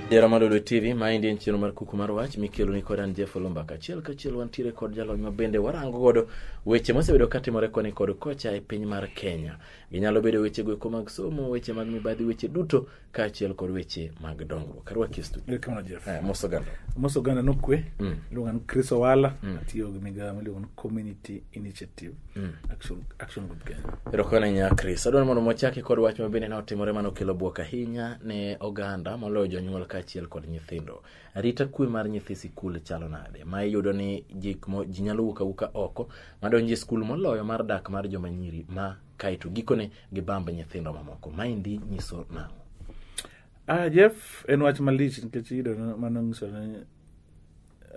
Jera Madolo TV, maendi en chenro mar kuku mar wach mikelo ni kod an Jeff Olomba. Kachiel kachiel wantiere kod jalony ma bende warango godo weche mosebedo katimore koni kod kocha e piny mar Kenya. Ginyalo bedo weche goeko mag somo, weche mag mibadhi, weche duto kaachiel kod weche mag dongruok arwaki e studio Kamano Jeff. Eh, mos oganda Mos oganda nokwe Mm. iluonga ni Chris Owala Mm. atiyo gi migawo miluongo ni Community Initiative Mm. Action, Action Group Kenya. erokamano ahinya chris adwaro mondo mwachaki kod wach ma bende ne otimore mane okelo bwok ahinya ne oganda moloyo jonyuol kaachiel kod nyithindo arita kwe mar nyithi sikul chalo nade ma iyudo ni jik mo- ji nyalo wuok awuka oko madonjo e skul moloyo mar dak mar joma nyiri ma kae to gikone gibamb nyithindo mamoko. Maendi nyiso nang'o? Ah, Jeff, en wach malich nikech iyudo ni mano nyiso ni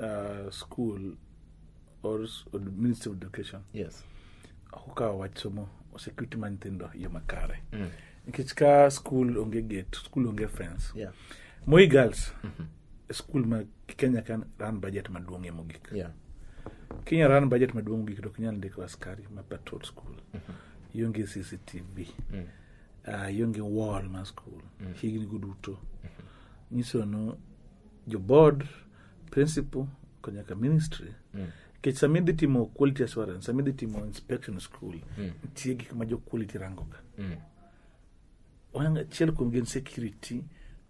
ah, school or s- or Ministry of Education Yes. ok okawo wach somo security mar nyithindo e yo makare. Nikech ka school onge gate, school onge fence. Yeah. Moi girls skul ma kenya kan ran bajet maduong' e mogik yeah. kenya ran bajet maduong' mogik to kinyal ndiko askari ma patrol skul mm -hmm. ionge cctv mm. uh, ionge wall ma skul mm. higni go duto mm -hmm. nyiso no jo board principal konyaka ministry mm kech sama idhi timo quality assurance sama idhi timo inspection school mm. nitie gik ma jo quality rangoga mm. achiel kuom gin security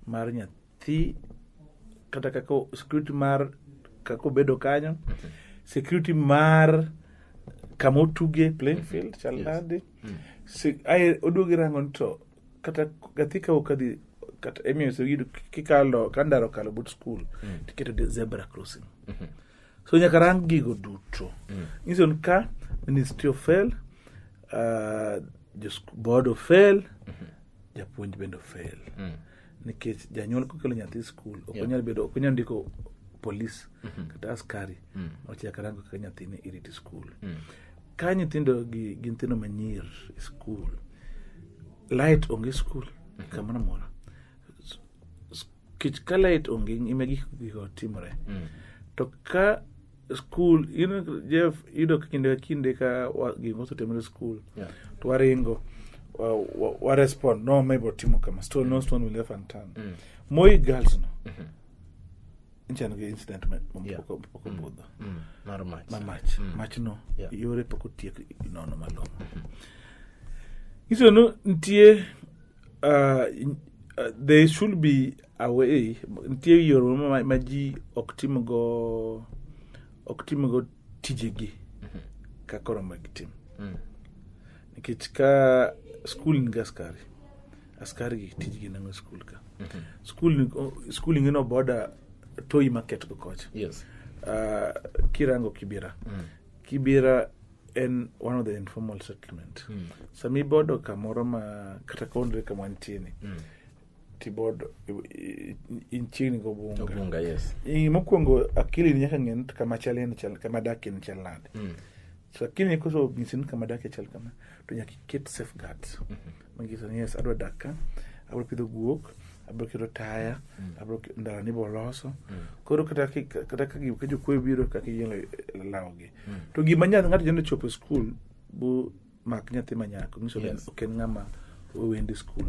mar nyathi thi kata kaka security mar kaka obedo kanyo security mar kama otuge playing field chal Yes. nade Mm. Se- ae oduogi rango ni to kata gathi ka okadhi kata emiyo se yudo kikalo ka ndara okalo but school Mm. tiketo de- zebra crossing Mhm. so nyaka rang gigo duto Mm. nyiso ni ka ministry of health uh, jo sku- board of health japuonj bende ofel Mm. nikech janyuol kokelo nyathi skul ok onyal bedo ok onyal ndiko polis mhm. kata askari mm. ochak rango kaka nyathini iriti skul mm. ka nyithindo gi gi nyithindo manyir e skul light onge skul mhm. kamoro amora kech ka light onge ime gik gigo timore mm. to ka skul jeff yudo kinde ka kinde ka gik mosetimre skul yeah. to waringo warespond wa, wa no mabiro timo kama stone no stone will ever turn mm. moi girls no mm -hmm. nchan gi incident mapoko mm. budho mm. mar mach ma mach mm. mach no yeah. yore pok otiek nono malong'o mm-hmm. iso no nitie uh, uh, there should be away nitie yore moro ma- ma ji ok timgo ok timgo tijegi ka koro ma gitim Mm. nikech ka skul ni gi askari askari gi tijgi nango skul ka skul ni- o- skul ingino boda toyi market go kocha Yes. Ah, kirango kibira kibira en one of the informal settlement sami bodo kamoro ma kata kaonre kama nitieni keyboard in chiegni go bunga bunga yes in mokwongo akili ni nyaka ng'en kama chale ni chal kama dake ni chal nade mm. so akili ni koso ng'isi ni kama dake chal kama to nyaka iket safeguard mm -hmm. ng'isi ni yes adwa dak ka abro pidho guok abro keto taya mm. abro ndara ni boloso mm. koro kata kata ka gi kejo kwe biro ka ki yelo lawo gi mm. to gima nyath ng'ato jende chopo e school bu mak nyathi manyako nyiso ni Yes. ok en ng'ama owendi skul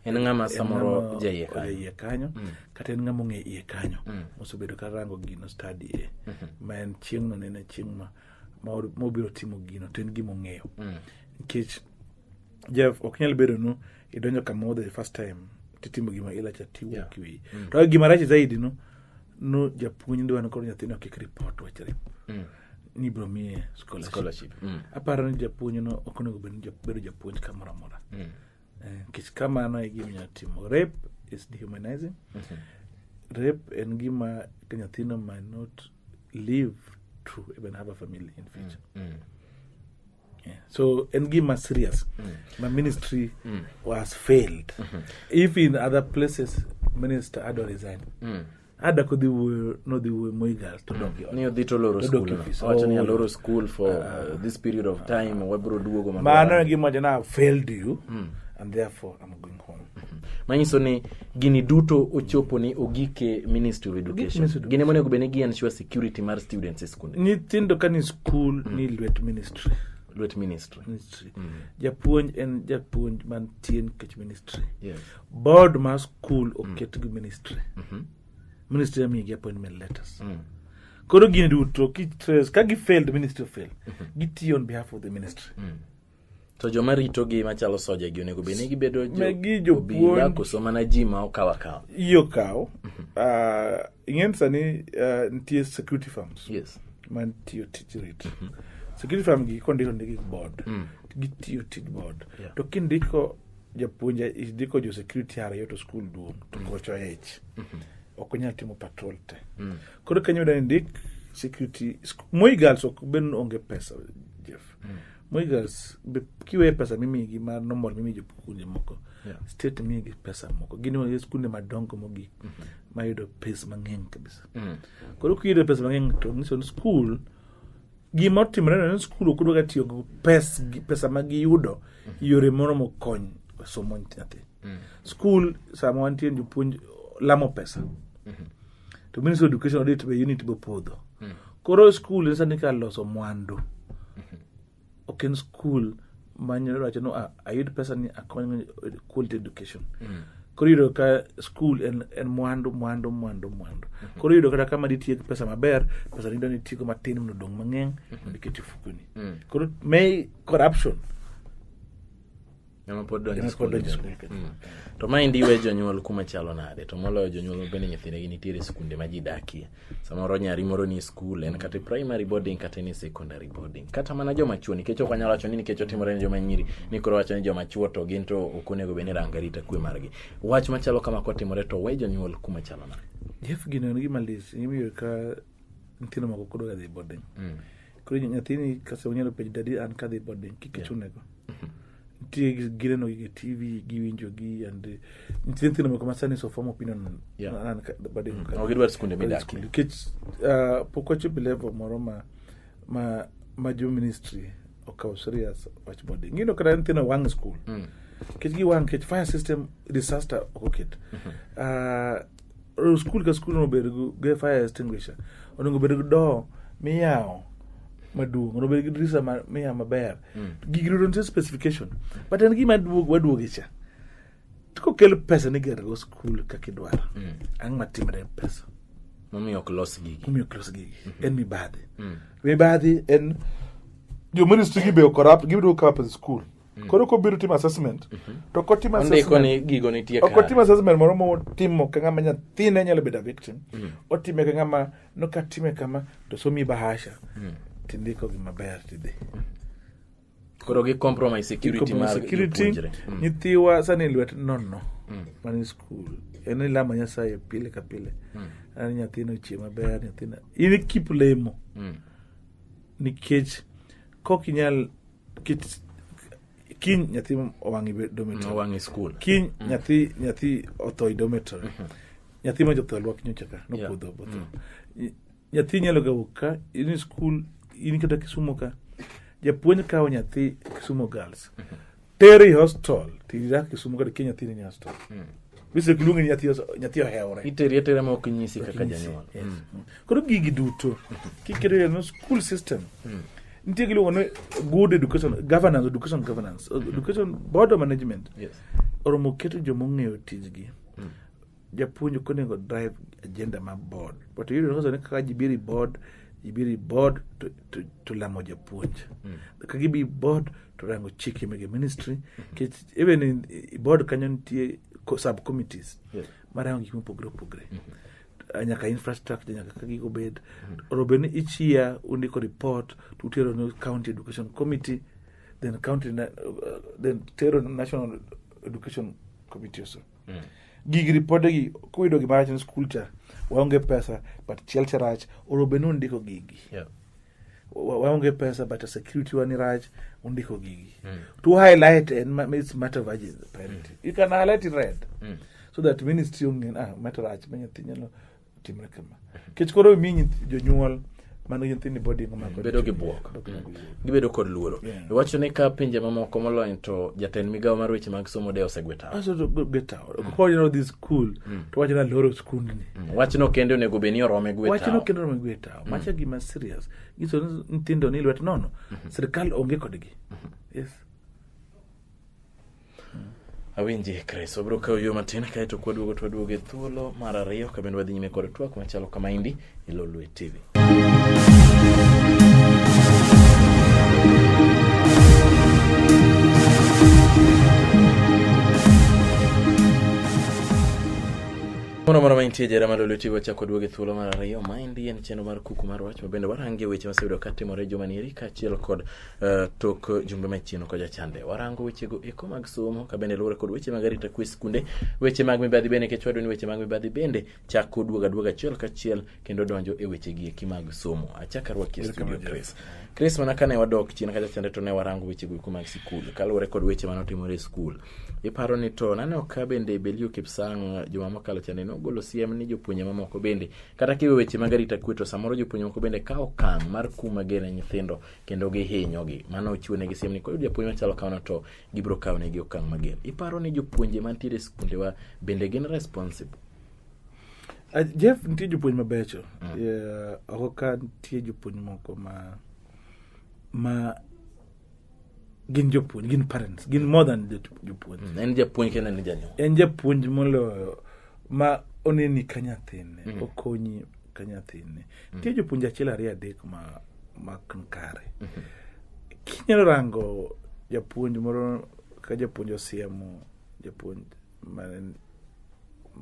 en ng'ama samoro jaiye kanyo. jaiye kanyo kata en ng'ama ong'e iye kanyo mosebedo ka rango gino stadi e ma en chieng'no ne en chieng' ma ma or- ma obiro timo gino to en gima ong'eyo nikech jeff ok nyal bedo nu idonjo kamoro the first time titimo gima ilacha tiwuok iweyi to gima rach zaidi no no japuonj ndwano koro nyathino kik report wachre ni biro miye scholarship. Scholarship, mm. aparo ni japuonj no ok onego bed ni jap- bedo japuonj kamoro amora Mm. Eh, nikech kamano e gima inyalo timo rape is dehumanizing Mhm. rape en gima ka nyathino might not live to even have a family in future Mm. Yeah. so en gima serious ma ministry was failed if in other places minister ado resign Mm. ada kodhi wuoyo nodhi wuoyo moigal to donge ni odhi to loro Odok skul e ofis. wacho ni Oh. aloro skul for uh, this period of time wabiro duogo mondo mano wa- e gima wacho na "I've failed you and therefore I'm going home manyiso ni gini duto ochopo ni ogike ministry of education Ministry of gini monego obed ni gi ensure security mar students e skunde nyithindo ka ni school ni lwet ministry lwet ministry ministry japuonj en japuonj mantie nikech ministry yes. board mar skul mm. oket gi ministry mm-hmm. ministry yamigi appointment letters mm. koro gini duto kitres ka gi failed ministry fail mm-hmm. gitiyo on behalf of the ministry mm. to joma ritogi machalo soja gi onego bed ni gibedo jobila koso mana ji ma okaw akaw iyo kaw mm-hmm. ah, ing'eni sani ah, nitie security firms yes. mantiyo tij rit security firm gi kondiko ndigi board mm. gitiyo tij board yeah. to kindiko japuonja idiko jo security ariyo to skul duong' to mm. gocho ich mm-hmm. ok onyal timo patrol te mm. koro kenya yudo ndik security moi girls ok ben onge pesa jeff mm. moi girls kiweye pesa mimigi ma normal mimi jopuonje moko yeah. state migi pesa moko gin e skunde madongo mogik mm -hmm. mayudo pes mang'eny kabisa mm. koro kiyudo pes mang'eny to nyiso ni skul gima otimore no en skul ok odwaga tiyo gi pes, gi- pesa ma giyudo yore moromo kony somo nyathi skul sama wantie ni jopuonj lamo pesa to ministry of education audit be unit be podho koro skul en sani ka loso mwandu ok en skul manyalo wacho no a- ayud pesa ni akony quality education koro iyudo ka school en, en mwandu mwandu mwandu mwandu koro iyudo kata kama ditie gi pesa maber pesa nido nitigo matin mondo odong mang'eng mondo iket e fukoni koro may corruption Ema pod donjo e skul kodonjo bende. skul Mm. to maendi we jonyuol kuma chalo nade to moloyo jonyuol mabende nyithindegi nitiere skunde ma ji dakie samoro nyari moro ni school en kata primary boarding kata ni secondary boarding kata mana joma chuo nikech ok wanyalo wacho ni nikech otimore ne joma nyiri ni koro wacho ni joma chuo to gin to ok onego bed ni ranga rita kwe margi wach machalo kama kotimore to we jonyuol kuma chalo na jef gino en gima lis imiyo ka nyithindo moko kodoga dhi boarding mm. koro nyathini kase onyalo penjo dadi an kadhi boarding kik ichunego yeah. nitie gineno gi tv giwinjo gi and eh, nitie nyithindo moko masani so form opinion Yeah. Mm. an- an- bade- Ok gidwar skunde bade midakie. skul. nikech ah, pok wachopo level moro ma ma ma jo ministry okawo serious wach boarding ngino kata nyithindo wang' school Mm. nikech giwang' nikech fire system disaster ok oket Ah, skul ka skul onego bed gi fire extinguisher onego bed gi doo miyawo maduong onego bed gi dirisa miyawo maber mm. gigi duto nitie specification but en gima waduoge cha kokel pesa ni gergo skul kaka idwaro mm. ang' matimre pesa momiyo ok los gigi momiyo ok los gigi mm-hmm. en mibadhi mm. mibadhi en jo ministry gi be okorrupt gibiduo corrupt the school Mm. Koro kobiro timo assessment mm -hmm. to kotim assessment gigo nitie kare. Okotim assessment moro motimo ka ng'ama nyathine nyalo bedo victim. Mm. Otime ka ng'ama no ka time kama to somi bahasha. Mm. Tindiko gi maber tidhi. Mm. Koro gi compromise security mar security mm. nyithiwa sani lwet nono. Mm. Man school. En ilama nyasaye pile ka pile. Mm. Ani nyathino chie maber nyathina. Ini keep lemo. Mm. Nikech kok inyal kit kiny nyathi owang'i be dormitory wang'e skul kiny nyathi nyathi otho e dormitory nyathi ma jotho alwak nyocha ka nopodho botho Ny- nyathi nyalo ga wuok ka in skul in kata kisumo ka japuonj kawo nyathi kisumo girls tere i hostel tirak kisumo kata kia nyathini ni hostel bise kiluonge ni nyathi os- nyathi ohewore iteri atera ma ok nyisi kaka janyuol Yes. Koro gigi duto kiketo e no school system. Nitie giluongo ni good education governance, education governance, education board of management. Yes. Oromo keto joma ong'eyo tijgi. Japuonj ok onego drive agenda mar board. But iyudo nonyiso ni kaka ji biro e board, ji biro e board to, to, to lamo japuonj. Ka gibi e board to rango chike mege ministry. Kech, even in, i board kanyo nitie co- subcommittees. Yes. Marango gik mopogre opogre. nyaka infrastructure nyaka ka gigo bed oro bed ni each year undiko report to utero ne county education committee then county na- uh, then tero ne national education committee also gig ripode gi kuyudo gima rach ne skul cha waonge pesa but chiel cha rach oro bed ni undiko gigi Yeah. wa- waonge pesa but security wa ni rach undiko gigi to highlight and ma- it's matter of urgency priority you can highlight in red so that ministry ongen ah matter rach ma nyathi nyalo timre kama kech koro mi nyithi- jonyuol mano nyithindo body ngomako bedo gi bwok gibedo kod luoro Yeah. iwacho ni ka pinje mamoko molony to jatend migawo mar weche mag somo de osegwe tawo aso to go get out ko you know this school to wacho na loro skundni wachno kende onego bed ni orome gwe wachno tawo kendo nomegweta macha gima serious nyiso ni nyithindo ni lwet nono sirikal onge kodgi yes awinji kristo biro kawo yo matin kaeto kwaduogo twaduogo e thuolo mar ariyo kabende wadhi nyime kod twak machalo kama indi e lolwe tv Moro moro mantie jera malo lweti wachako duoge thuolo mar ariyo maendi en chenro mar kuku mar wach mabende warange weche maseyudo ka timore juma nieri kaachiel kod eh, tok jumbe machieno kod jachande warango wechego eko mag somo kabende luwore kod weche mag arita kwe skunde weche mag mibadhi bende nikech wadwa ni weche mag mibadhi bende chako duogo aduoga achiel kachiel kendo donjo e weche gi eki mag somo achaka rwaki e studio Chris Chris mana kane wadok chien kacha chande to ne warango weche go mag sikul kaluwore kod weche mane otimore e skul iparo ni to naneno ka bende Belio Kipsang juma mokalo chande nogolo siem ni jopuonje mamoko bende kata kiwe weche mag arita kwe to samoro jopuonje mamoko bende kawo okang' mar kuma gene nyithindo kendo gihinyogi mano ochiwo negi siem ni koyud japuonj machalo kamano to gibiro kawo negi okang' mager iparo ni jopuonje mantiere e skundewa bende gin responsible Ah, Jeff, nitie jopuonj mabecho. Eh, Oko ka nitie jopuonj moko ma ma gin jopuonj, gin parents, gin more than jot- jopuonj. En japuonj kendo en janyuol. En japuonj moloyo ma oneni ka nyathine, okonyi ka nyathine. Nitie jopuonj achiel ariyo adek ma ma kan kare. Kinyalo rango japuonj moro ka japuonj osiemo, japuonj man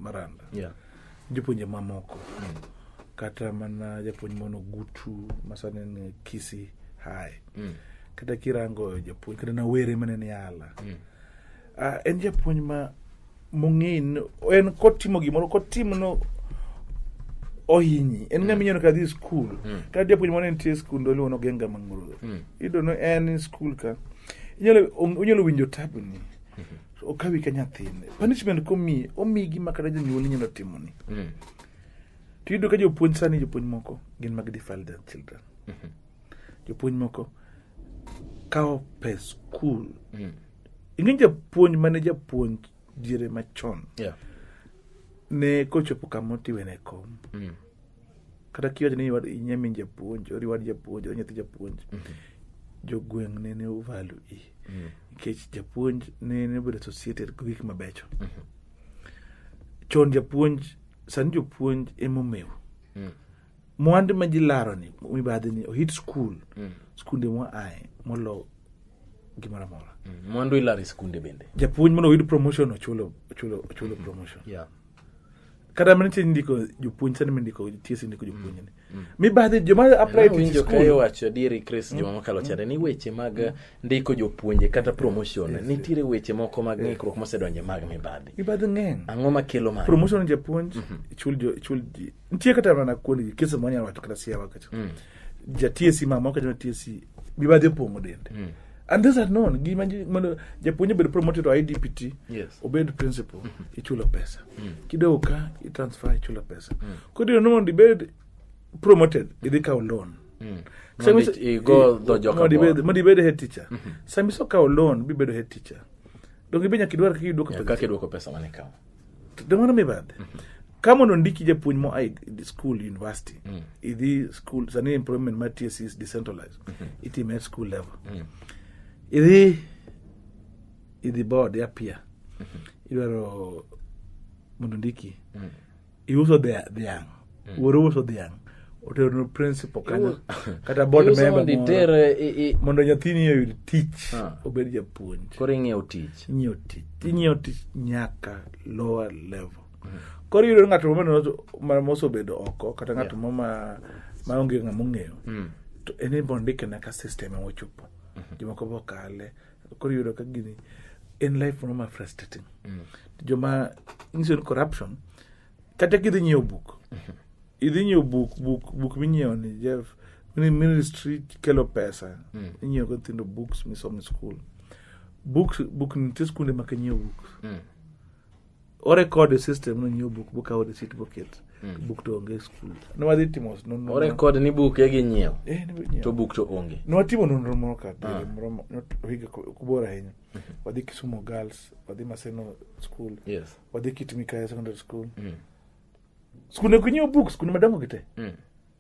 Maranda. Yeah. Jopuonje mamoko. Mm. Kata mana japuonj mono gutu masane ni Kisi High. Mm. Kata kirango japuonj kata na were mane ni ala. Mm. Uh, en japuonj ma mong'in en kotimo gimoro kotimo no ohinyi en ng'ama mm. inyono ka dhi skul mm. kata japuonj moro nitie skul ndoluo nogenga mang'urudho mm. idono en skul ka inyalo winjo tabni mm-hmm. okawi ka nyathine punishment komiyi omiyi gima kata jonyuol inyalo timoni Mm. to iyudo ka jopuonj sani jopuonj moko gin mag defile their children jopuonj moko kawo pes skul Mm. ing'e japuonj mane japuonj diere machon Yeah. ne kochopo kama otiwene kom Mm. kata kiwacho ni wad- inye min japuonj ori wad japuonj ori nyathi japuonj jogweng' ne ne ovalu i nikech japuonj ne ne obedo associated gi gik mabecho chon japuonj sani jopuonj emomew mwandu ma ji laroni mibadhi ni ohit skul skunde mwa aye molo gimoro amora mwandu ilaro e skunde bende japuonj mondo oyud promotion ochulo ochulo ochulo promotion Yeah. kata mana nitie ndiko jopuonj sani mindiko nitie sindiko jopuonj ni mibadhi joma apply to Awinjo ka school iwacho adieri Chris juma mokalo chande ni weche mag ndiko jopuonje kata promotion nitiere weche moko mag ng'ikruok mosedonje mag mibadhi mibadhi ng'eny ang'o makelo mano promotion japuonj ichul jo- ichul ji nitie kata mana kuondgi kese ma wanyalo wacho kata siawa kacha mm. ja TSC mama okacha na TSC mibadhi opong'o dende mm. and these are known gima ji- mondo japuonj obed promoted to idpt Yes. obed principal ichulo pesa kidogo ka itransfer ichulo pesa koro ino mondo ibed promoted idhi kawo loan Mondo i- igo dho joka mondo ibed- bor. mondo ibed head teacher sama iso kawo loan bibedo head teacher donge be nyaka idwar kaka idwoko Yeah, pesa kaka idwoko pesa mane kawo Don't want to be bad. Kama unondiki japuonj mo ai school university, idhi school sani employment mar TSC is decentralized. Itime at school level. Idhi idhi board ya pia. Idwaro mondo ndiki. iuso dhia- dhiang' wuoro uso dhiang' oteronu principal kanyo kata board Iuso member mondo moro, iter i- i- mondo nyathini oyud tich Ah. obed japuonj koro ing'iewo tich inyiewo tich inyiewo tich nyaka lower level koro iyudo ni ng'ato mano- ma- mosebedo oko kata ng'ato mo ma ma onge ng'ama ong'eyo to en ibo ndike na ka system emochopo jomoko bokale koro yudo ka gini en life moro ma frustrating mm. joma nyiso ni corruption kata kidhi nyiewo buk mm-hmm. idhi nyiewo buk buk buk minyiewo ni jeff ministry kelo pesa mm. inyiewo go nyithindo books misomo e school books buk nitie skunde ma kinyiewo books mm. orekod e system nonyiew buk bokawo receipt boket hmm. buk to onge e skul nwadhi timo orekod ni buk e gi nyiew eh, to buk to onge nwatimo nonro moro ka ah. moro higa kubor ahinya hmm. wadhi kisumo girls wadhi maseno school wadhi kit mikaya secondary school hmm. skunde kunyiew books kuna madongo gi te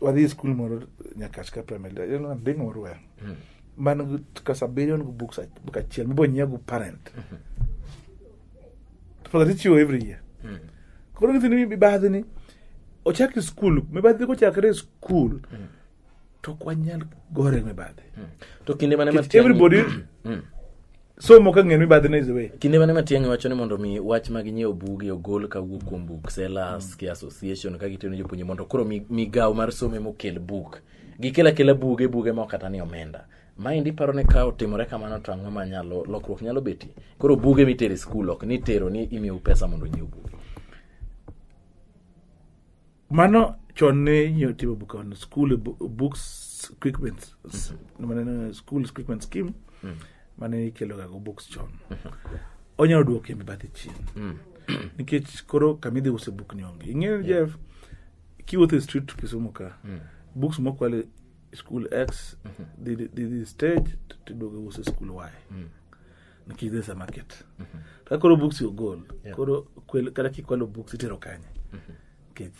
wadhi e skul moro nyakach ka primary nding orwel hmm. man kas abiriyo ngu books book achiel mibo nyia gu parent hmm. for that ichiwo every year hmm. koro nyithindo mibadhi ni ochak e skul mibadhi kochakre e skul to ok wanyal gore mibadhi to kinde mane everybody somo ka ng'en mibadhi ne iziwe kinde mane matiang'i wacho ni mondo mi wach mag nyiewo buge ogol ka wuok kuom book sellers ki association ka gitiyo ne jopuonje mondo koro mi- migawo mar somo ema okel buk gikel akela buge buge ma ok kata ni omenda maendi paro ni ka otimore kamano to ang'o ma nyalo lokruok nyalo betie koro buge mitero e skul ok ni tero ni imiyou pesa mondo onyiew buge mano chon ne inyalo timo bukano school e bu- books equipment s- maneno school equipment scheme mane ikeloga go books chon onyalo duoko kembe bathe chien nikech koro kama idhi use buk ni onge ing'eyo ni jeff kiwuotho e street kisumu ka books mokwal e school x dhi dhi- dhi stage tiduogo use school y nikech there's a market mm -hmm. kaka koro books your goal yeah. koro kata kikwalo books itero kanye mm -hmm nikech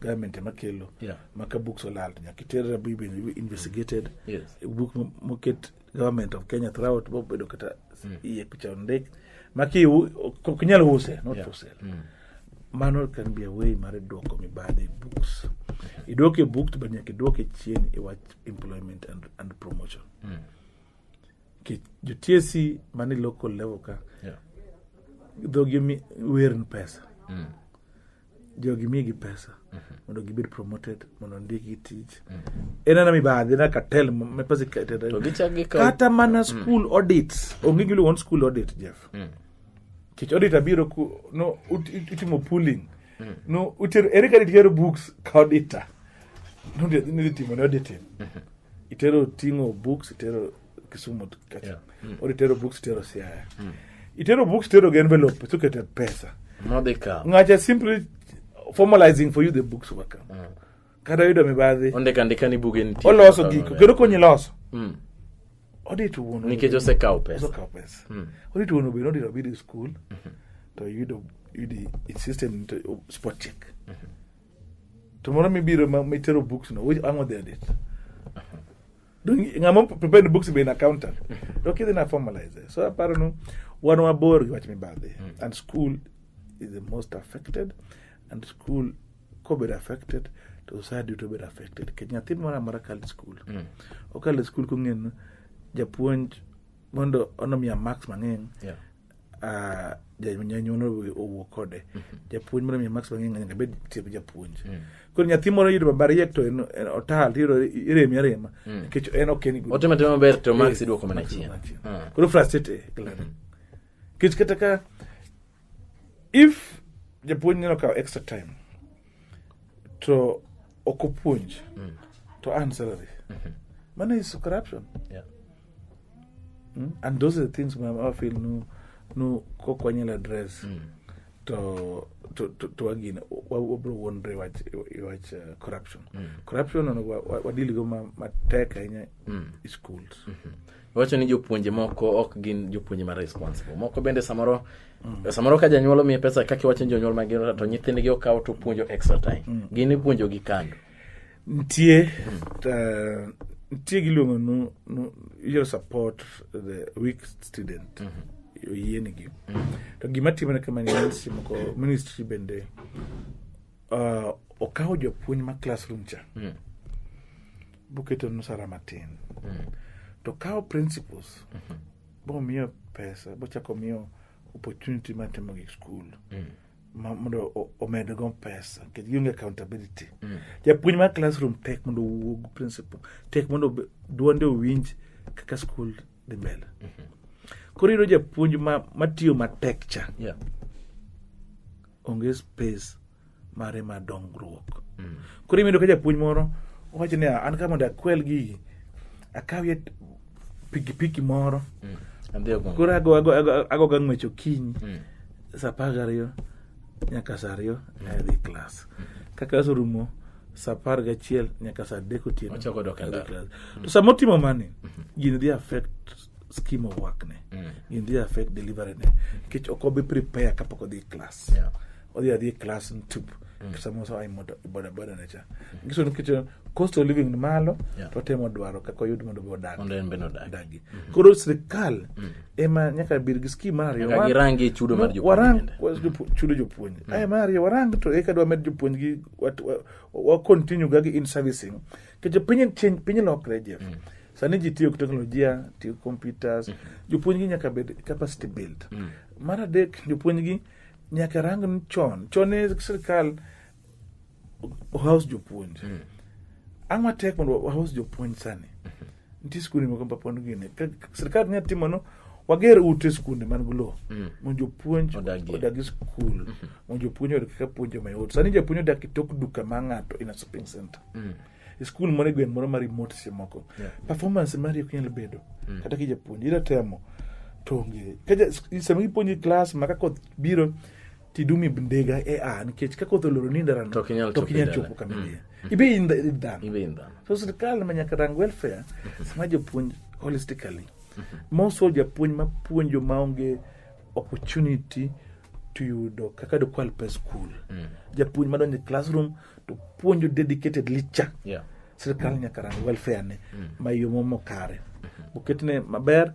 government ema kelo yeah. maka books olal to nyaka iter rabi be investigated mm. yes. book moket government of kenya throughout bobedo kata mm. iye picha ondik maki ok nyal use not yeah. for sale mm. mano can be a way mar duoko mibadhi e books mm-hmm. iduoke books but nyaka iduoke chien iwach e employment and, and promotion mm. Ki- jotiesi mani local level ka Yeah. dhogi mi- wer ni pesa Mm. jogi migi pesa mondo gibed promoted mondo ndikgi tich en ana mibadhi na katel me pesa iketed To gichak gikaw- kata mana school audits onge giluwon school audit jeff Mm. kech audit abiro ku no ut- ut- utimo pooling mm. no utero ere kaka itero books ka auditor nonde nidhi timo ne auditing mm-hmm. itero ting'o books itero kisumu kacha yeah. mm. or itero books itero siaya mm. itero books itero gi envelope tukete pesa modika ngacha simply formalizing for you the books waka mm. kata yudo mibadhi ondika andika ni buge nitie oloso giko kendo konyi loso mm. odito wuon nikech osekawo pesa osekawo pesa mm. odito wuon obiro odito bidi school mm -hmm. to yudo yudo system to oh, spot check mm -hmm. to moro mibiro mitero books no which ango there date mm-hmm. ng'ama prepared books be in accountant mm -hmm. to kidhi na formalize so aparo no wan wabor gi wach mibadhi mm. and school is the most affected and school kobedo affected to society duto bedo affected nikech nyathi moro amora kalo e skul Mm. okalo e skul kong'eyo ni japuonj mondo onomiya marks mang'eny Yeah. ah, ja- janyuol owe- owuo kode japuonj mondo omiya marks mang'eny nyaka bed tiep japuonj koro nyathi moro yudo baba riek to en en otal tiyudo iremi arema nikech en ok en good. otimo timo maber to max iduoko mana Max chien iduoko mana chien. Ah. koro frustrate kila nikech kata ka if japuonj neno kawo extra time to ok opuonj mm. to earn salary mm-hmm. mano is corruption yeah. mm? and those are the things ma afil nu nu kokwanyal address mm. to to to to again wabro wonre wach wach uh, corruption mm. corruption onego wadil go ma matek ahinya mm. schools mm -hmm. wacho ni jopuonje moko ok gin jopuonje ma responsible moko bende samoro mm. samoro ka janyuol omiye pesa kaka iwacho ni jonyuol mag to nyithindgi okawo to puonjo extra time mm. gin ipuonjo gi kando nitie mm. uh, nitie giluongo no, no, you support the weak student mm -hmm. oyienigi mm -hmm. to gima timore kama ministry moko ministry bende uh, okawo jopuonj ma classroom cha mm -hmm. boketo nusara matin mm. to kawo principles mm -hmm. bomiyo pesa bochako miyo opportunity mar timo gik skul mm. mondo omedgo pesa nikech gionge accountability mm. japuonj mar classroom tek mondo owuog principal tek mondo duonde owinj kaka skul dhi mbele mm -hmm. koro yudo japuonj matiyo matek cha yeah. onge space mare mar dongruok mm. koro imido ka japuonj moro owacho ni an ka mondo akwel gigi akawie pikipiki moro mm. koro agoga ng'wech okinyi mm. sa apar gariyo nyaka sa ariyo mm. adhi klas mm. kaka aserumo sa apar gachiel nyaka sa adek otieno mm. to sama otimo mani mm-hmm. gini dhi affect scheme of work ne mm. gin dhi affect delivery ne nikech ok obi prepare kapok odhi class yeah. odhi adhi class ntup mm. samosa ai bodaboda ne cha mm. ngiso nikech uh, cost of living ni malo yeah. to temo dwaro kaka oyud mondo be odag mondo en be odagi mm -hmm. koro sirkal mm. ema nyaka bir gi scheme mar ariyo nyaka girangi chudo mar jopuonj warang chudo jopuonj mm. ai mar ariyo warang to eka dwa med jopuonj gi wa, wa, wa continue ga gi in servicing kejo piny piny lokre jeff mm. sani ji tiyo gi teknolojia tiyo gi computers mm -hmm. jopuonjgi nyaka bed capacity build mm -hmm. mar adek jopuonjgi nyaka rang ni chon chon ne sirikal house jopuonj mm -hmm. ang' matek mondo wahouse jopuonj sani mm -hmm. nitie skunde moko mapon gine sirikal nya timo no wager ute skunde man gi lowo mm. mondo jopuonj odagi skul mm-hmm. mondo jopuonj oyud kaka puonjo mayot sani japuonj odak e tok duka ma ng'ato in a shopping center mm. e skul moro e gweng' moro ma remote seche moko Yeah. performance mari ok nyal bedo kata kijapuonj ira temo to onge Ka ja- s- sama ipuonji klas ma ka koth biro tidumi bndega e a nikech ka koth oloro ni ndarano To ok inyal to ok chopo inyal dala. chopo kama Mm. idhiye ibe in the- in dhano Ibe in dhano. so sirikal ma nyaka rang welfare sama jopuonj holistically moso japuonj mapuonjo maonge opportunity to yudo kaka dokwal pes skul mm. japuonj madonjo e classroom to puonjo dedicated licha yeah. sirikal nyaka rang welfare ne mm. ma yo momo kare mm-hmm. oketne maber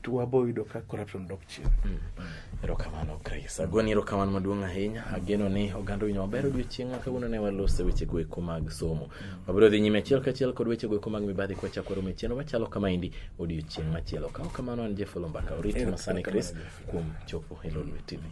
to wabo yudo ka corruption dok chien mm. erokamano grace agoni erokamano maduong' ahinya ageno ni oganda winyo maber odiochieng'a kawuono ne walose weche goeko mag somo wabiro dhi nyime achiel kachiel kod weche goeko mag mibadhi kwachako romo e chenro machalo kama endi odiochieng' machielo kawo kamano an jefolo mbaka orit masani grace kuom chopo hilo lwetini.